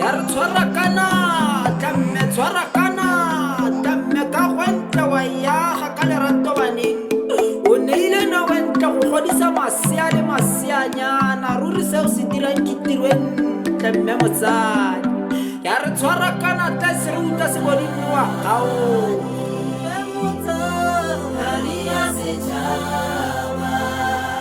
ya re tshwara kana tlamme tshwara kana tlamme ka gwentle wa yaga ka lerato baneng o neile no wentle go godisa masea le maseanyana ruri se o se dirang ke tiro e ntle mme motsadi ya re tshwara kana tla se re utlwa se bodinne wa gago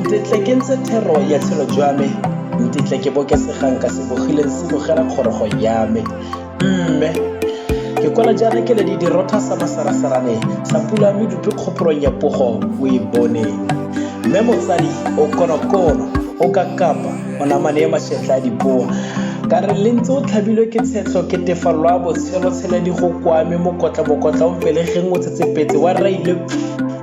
ntetle ke ntse thero ya tshelo jwa me ntetle ke bokesegang ka sebogileng se bogela kgorogo ya me mme ke kwala jaana ke le di dirotha sa masarasarane sa pula mme dupe kgopolong ya pogo o e boneng mme motsadi o konokono o ka kapa o namane ya mašetla a dipoa ka re le ntse o tlhabilwe ke tshetlho ke tefallo a botshelo tshela di go kwame mokotla mokotla o mpelegeng o tsetsepetse wa raile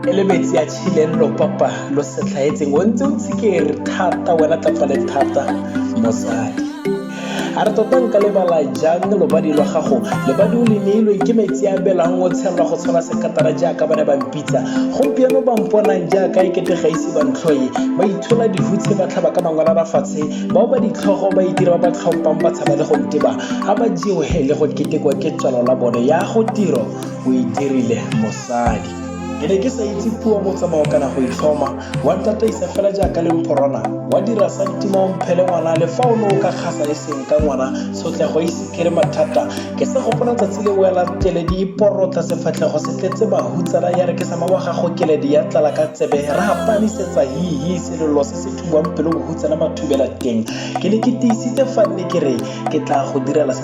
e le metsi a Thileng lo papa lo setlhaetseng o ntse o tshikere thata wena ka fale thata mosadi a re tota nka lebala jang lobadi lwa gago lebadi o le neilweng ke metsi a belang o tshelwa go tshwana sekatara jaaka ba ne ba mpitsa gompieno ba mponang jaaka e kete ga ise ba ntlhoye ba itshola dihutshe ba tlhaba ka mangwela ba fatshe bao ba ditlhogo ba itira ba ba tlhompang ba tshaba le go nteba a ba jewe le go ketekwa ke tswalo la bone ya go tiro o e dirile mosadi ke ne ke sa itse puo motsamao kana go itlhoma wa ntataisa fela jaaka le mphorona wa dira sa ntima o mphele ngwana le fa o ne o ka kgasa e seng ka ngwana tshotlego e sekere mathata ke sa gopola tsatsi le wela keledi e porotla sefatlhego se tletse bahutsana ya re ke sama wa gago keledi ya tlala ka tsebe re gapanisetsa hihi selelo se se thubang pelo bohutsana mathubela teng ke ne ke tiisitse fa nne ke re ke tla go direla se